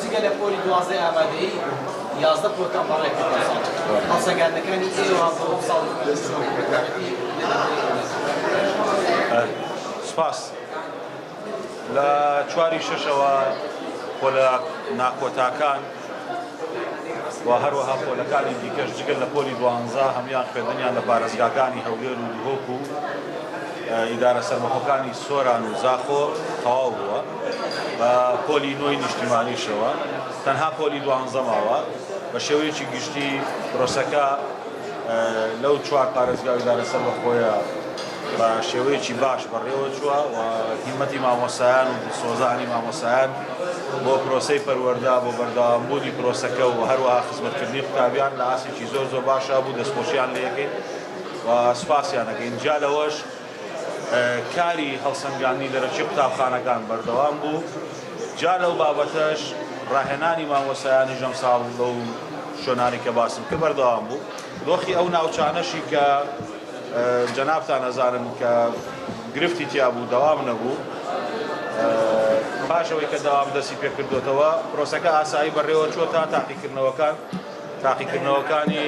جگە لە پۆلی دوازدەی ئامادەیی یازدە پۆلتان بەڕێ کردووە ساڵ هەڵسەنگاندنەکانی ئێوە بۆ ئەم ساڵی سپاس لە چواری شەشەوە پۆلە ناکۆتاکان و هەروەها پۆلەکانی دیکەش جگەل لە پۆلی دوانزە هەموان خوێندنیان لە پارێزگاکانی هەولێر و دهۆک و ئیدارە سەربەخۆکانی سۆران و زاخۆ تەواو بووە بە پۆلی نۆی نیشتیمانیشەوە تەنها پۆلی دوانزە ماوە بە شێوەیەکی گشتی پرۆسەکە لەو چوار پارێزگا ئیدارە سەربەخۆیە بە شێوەیەکی باش بەڕێوە چووە و هیمەتی مامۆسایان و دڵسۆزانی مامۆسایان بۆ پرۆسەی پەروەردا بۆ بەردەوامبوونی پرۆسەکە و هەروەها خزمەتکردنی قوتابیان لە ئاستێکی زۆر زۆر باشا بوو دەستخۆشیان لێکەین و سوپاسیان دەکەین جا لەوەش کاری هەڵسەنگاندنی دەرەکی قوتابخانەکان بەردەوام بوو، جا لەو بابەتەش ڕاهێنانی مامۆستایانیش ئەمساڵ لەو شوێنانەی کە باسم کرد بەردەوام بوو، دۆخی ئەو ناوچانەشی کە جەنابتان ئەزانن کە گرفتی تیا بوو دەوام نەبوو، پاش ئەوەی کە دەوام دەستی پێ کردۆتەوە پرۆسەکە ئاسایی بەڕێوە چۆتە تاقیکردنەوەکان، تاقیکردنەوەکانی.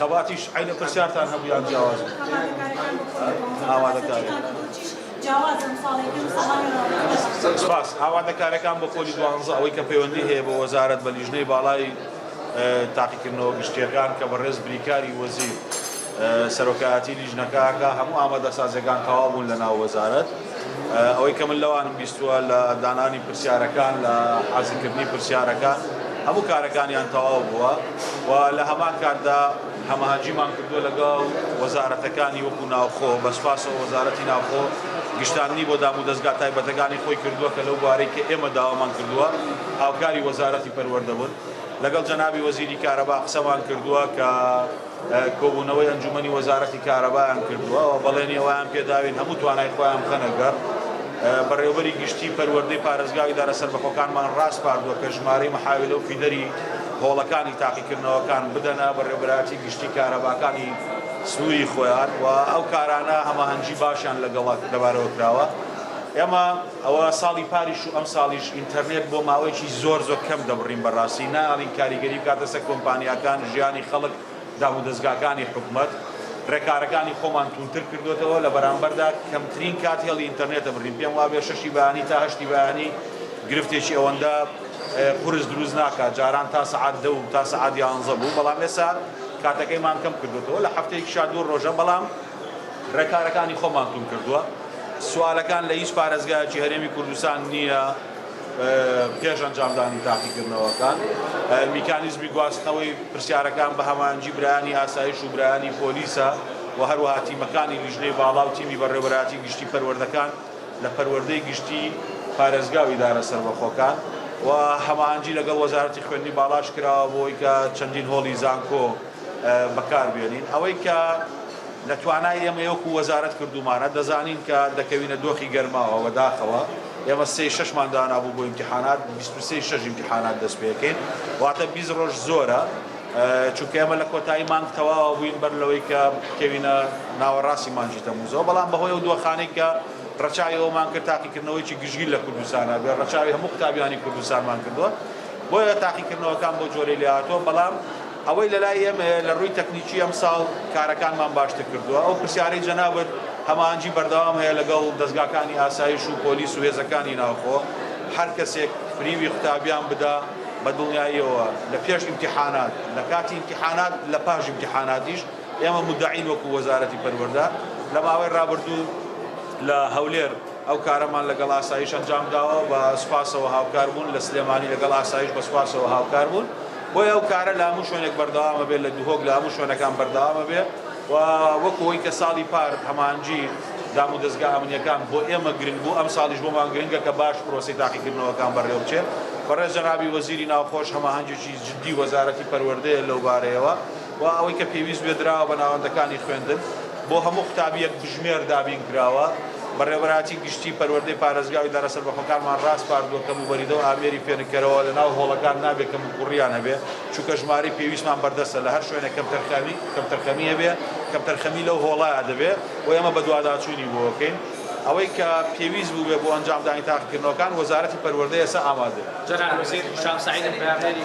خەباتیش عەینە پرسیارتان هەبوو یان جیاواز بوو؟ ئاوادەکارەکان بۆ کۆلیژ جیاوازن ساڵی پێنج ساڵانی ڕابردوو. سپاس. ئاوادەکارەکان بۆ پۆلی دوانزە ئەوەی کە پەیوەندی هەیە بە وەزارەت بە لیژنەی باڵای تاقیکردنەوە گشتییەکان کە بەڕێز بریکاری وەزیر سەرۆکایەتی لیژنەکە ئەکا هەموو ئامادەسازییەکان تەواو بوون لەناو وەزارەت. ئەوەی کە من لەوانم بیستووە لە دانانی پرسیارەکان، لە حازرکردنی پرسیارەکان، هەموو کارەکانیان تەواو بووە و لە هەمان کاتدا هەماهەنگیمان کردووە لەگەڵ وەزارەتەکانی وەکوو ناوخۆ، بە سوپاسەوە وەزارەتی ناوخۆ گشتاندنی بۆ دامودەزگا تایبەتەکانی خۆی کردووە کە لەو بوارەی کە ئێمە داوامان کردووە هاوکاری وەزارەتی پەروەردە بوون. لەگەڵ جەنابی وەزیری کارەبا قسەمان کردووە کە. کۆبوونەوەی ئەنجوومەنی وەزارەتی کارەبایان کردووە و بەڵێنی ئەوەیان پێداوین هەموو توانای خۆیان بخەنە گەڕ. بەڕێوەبەری گشتی پەروەردەی پارێزگا و ئیدارە سەربەخۆکانمان ڕاسپاردووە کە ژمارەی محاویلە و فیدەری هۆڵەکانی تاقیکردنەوەکان بدەنە بەڕێوەبەرایەتی گشتی کارەباکانی سنووری خۆیان و ئەو کارانە هەماهەنگی باشیان لەگەڵ لەبارەوە کراوە. ئێمە ئەوە ساڵی پاریش و ئەمساڵیش ئینتەرنێت بۆ ماوەیەکی زۆر زۆر کەم دەبڕین بەڕاستی نایەڵین کاریگەری بکاتە سەر کۆمپانیاکان، ژیانی خەڵک، دامودەزگاکانی حکومەت. ڕێکارەکانی خۆمان توندتر کردۆتەوە لە بەرامبەردا کەمترین کات هێڵی ئینتەرنێت دەبڕین پێم وابێ شەشی بەیانی تا هەشتی بەیانی گرفتێکی ئەوەندە قورس دروست ناکات جاران تا سەعات دە و تا سەعات یانزە بوو بەڵام ئێسا کاتەکەیمان کەم کردۆتەوە لە هەفتەیەکیشا دوو ڕۆژە بەڵام ڕێکارەکانی خۆمان توند کردووە، سوالەکان لە هیچ پارێزگایەکی هەرێمی کوردستان نییە پێش ئەنجامدانی تاقیکردنەوەکان، میکانیزمی گواستنەوەی پرسیارەکان بە هەماهەنگی برایانی ئاسایش و برایانی پۆلیسە و هەروەها تیمەکانی لیژنەی باڵا و تیمی بەڕێوەبەرایەتی گشتی پەروەردەکان لە پەروەردەی گشتی پارێزگا و ئیدارە سەربەخۆکان و هەماهەنگی لەگەڵ وەزارەتی خوێندنی باڵاش کراوە بۆ ئەوەی کە چەندین هۆڵی زانکۆ بەکار بێنین ئەوەی کە لە توانای ئێمەی وەکو وەزارەت کردومانە دەزانین کە دەکەوینە دۆخی گەرماوە وەداخەوە ئێمە سێ شەشمان دانابوو بۆ ئیمتحانات بیست و سێ شەش ئیمتحانات دەست پێکەین واتە بیست ڕۆژ زۆرە چونکە ئێمە لە کۆتایی مانگ تەواوە بووین بەر لەوەی کە کەوینە ناوەڕاستی مانجی تەموزەوە بەڵام بەهۆی ئەو دۆخانەی کە ڕەچاوی ئەومان کرد تاقیکردنەوەیکی گشتگیر لە کوردستانە بێ ڕەچاوی هەموو قوتابیانی کوردستانمان کردووە بۆیە تاقیکردنەوەکان بۆ جۆرەی لێهاتووە بەڵام ئەوەی لەلای ئێمەیە لە ڕووی تەکنیکی ئەمساڵ کارەکانمان باشتر کردووە، ئەو پرسیارەی جەنابت هەماهەنگی بەردەوام هەیە لەگەڵ دەزگاکانی ئاسایش و پۆلیس و هێزەکانی ناوخۆ، هەر کەسێک فریوی قوتابیان بدا بە دڵنیاییەوە لە پێش ئیمتیحانات، لە کاتی ئیمتیحانات، لە پاش ئیمتیحاناتیش ئێمە مودەعین وەکو وەزارەتی پەروەردە، لە ماوەی ڕابردوو لە هەولێر ئەو کارەمان لەگەڵ ئاسایش ئەنجام داوە بە سوپاسەوە هاوکار بوون، لە سلێمانی لەگەڵ ئاسایش بە سوپاسەوە هاوکار بوون. بۆیە ئەو کارە لە هەموو شوێنێک بەردەوامە بێت لە دهۆک لە هەموو شوێنەکان بەردەوامە بێ و وەکو ئەوەی کە ساڵی پار هەمانجی دامودەزگا ئەمنیەکان بۆ ئێمە گرنگ بوو ئەم ساڵیش بۆمان گرنگە کە باش پرۆسی تاقیکردنەوەکان بەڕێوەبچێت بەڕێز جەنابی وەزیری ناوخۆش هەماهەنگێکی جدی وەزارەتی پەروەردەیە لەوبارەیەوە. و ئەوەی کە پێویست بێت دراوە بە ناوەندەکانی خوێندن بۆ هەموو قوتابییەک بژمێر دابین کراوە. بەڕێوەبەرایەتی گشتیی پەروەردەی پارێزگاوی دهرە سەربەخۆکانمان راسپاردووە کە موبەریدە و ئامێری فێنککەرەوە لە ناو هۆڵەکان نابێت کەموکووڕییان هەبێت چونکە ژمارەی پێویستمان بەردەستە لە هەر شوێنێک کەمتەرخەمی هەبێت کەمتەرخەمی لەو هۆڵەیە دەبێت و ئێمە بەدواداچوونی بۆ ئەکەین ئەوەی کە پێویست بووبێت بۆ ئەنجامدانی تاقیکردنەوەکان وەزارەتی پەروەردە ئێستا ئامادەیە. جەنابی وەزیر، هیشام سەعید، بەیاننێری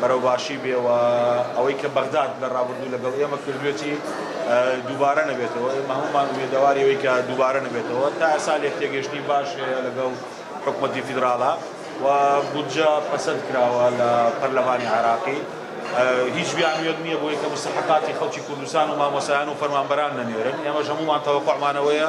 بەرەو باشی بێ و ئەوەی کە بەغداد لە رابردوو لەگەڵ ئێمە کردوێتی دووبارە نەبێتەوە، ئێمە هەموومان ئومێدەواری ئەوەی کە دووبارە نەبێتەوە، تا ئێستا لێکتێگەیشتنی باش هەیە لەگەڵ حکومەتی فیدراڵا و بودجە پەسەند کراوە لە پەرلەمانی عێراقی، هیچ بیانوویەک نییە بۆی کە مستەحەقاتی خەڵکی کوردستان و مامۆستایان و فەرمانبەران نەنێرن، ئێمەش هەموومان تەوەقوعمان ئەوەیە.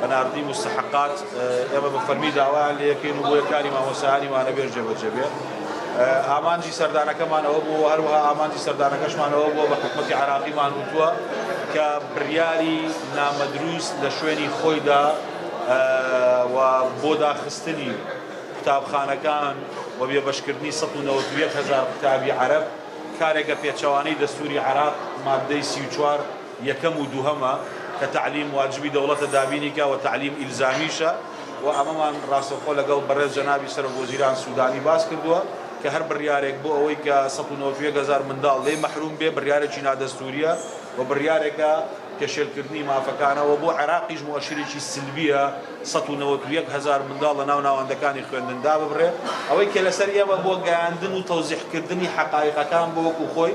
بە ناردنی موستەحەقات ئێمە بە فەرمی داوایان لێ دەکەین و بۆیە کاری مامۆستایانی وانەبێژ جێبەجێ بێت ئامانجی سەردانەکەمان ئەوە بوو هەروەها ئامانجی سەردانەکەشمانەوە بووە بە حکومەتی عراقیمان وتووە کە بڕیاری نامەدروست لە شوێنی خۆیدا و بۆ داخستنی قوتابخانەکان و بێبەشکردنی 1970 هزار قوتابی عەرب کارێکە پێچەوانەی دەستوری عراق مادەی 34 یەکەم و دووهەمە کە تەعلیم واجبی دەوڵەتە دابینی کا وە تەعلیم ئیلزامیشە وە ئەمەمان ڕاستەوخۆ لەگەڵ بەڕێز جەنابی سەرۆک وەزیران سودانی باس کردووە کە هەر بڕیارێک بۆ ئەوەی کە سەد و نەوەد و یەک هەزار منداڵ لێی مەحروم بێ بڕیارێکی نادەستوریە وە بڕیارێکە پێشێلکردنی مافەکانە وە بۆ عێراقیش موئەشرێکی سلبیە سەد و نەوەد و یەک هەزار منداڵ لە ناو ناوەندەکانی خوێندن داببرێ ئەوەی کە لەسەر ئێمە بۆ گەیاندن و تەوزیح کردنی حەقایقەکان بۆ وەکو خۆی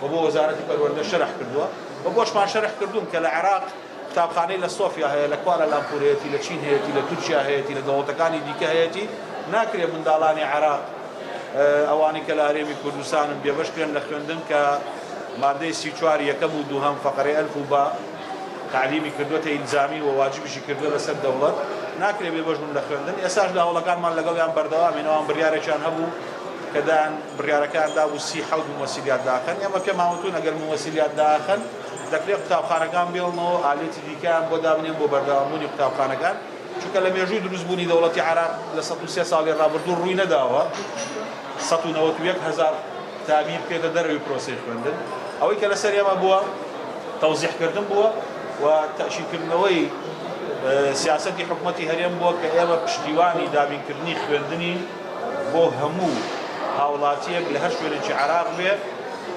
و بۆ وەزارەتی پەروەردە شەرح کردووە و بۆشمان شەرح کردوون کە لە عێراق قوتابخانەی لە سۆفیا هەیە لە کوالە لامپور هەیەتی لە چین هەیەتی لە تورکیا هەیەتی لە دەوڵەتەکانی دیکە هەیەتی ناکرێ منداڵانی عێراق ئەوانەی کە لە هەرێمی کوردستانن بێبەش کرێن لە خوێندن کە مادەی سی چوار یەکەم و دووهەم فەقەرەی ئەلف و با تعلیمی کردوەتە ئیلزامی و واجبیشی کردوە لەسەر دەوڵەت ناکرێ بێبەش بن لە خوێندن ئێساش لە هەوڵەکانمان لەگەڵیان بەردەوامینەوەیان بڕیارێکیان هەبوو کە دایان بڕیارەکەیان دابوو سی حەوت مووسیلیات داخەن، ئێمە پێمان وتوون ئەگەر مووسیلیات داخەن دەکرێت قوتابخانەکان بێڵنەوە و ئالێتی دیکەیان بۆ دابنێن بۆ بەردەوامبوونی قوتابخانەکان، چونکە لە مێژووی دروستبوونی دەوڵەتی عێراق لە سەد و سێ ساڵی ڕابردوو ڕووی نەداوە سەد و نەوەد و یەک هەزار قوتابی بکەیتە دەرەوەی پرۆسەی خوێندن، ئەوەی کە لەسەر ئێمە بووە تەوزیحکردن بووە و تەئکیدکردنەوەی سیاسەتی حکومەتی هەرێم بووە کە ئێمە پشتیوانی دابینکردنی خوێندنین. بۆ هەموو هاوڵاتیەک لە هەر شوێنێکی عێراق بێ،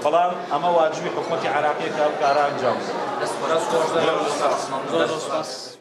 بەڵام ئەمە واجبی حکومەتی عێراقیە کە ئەم کارە ئەنجام بدات.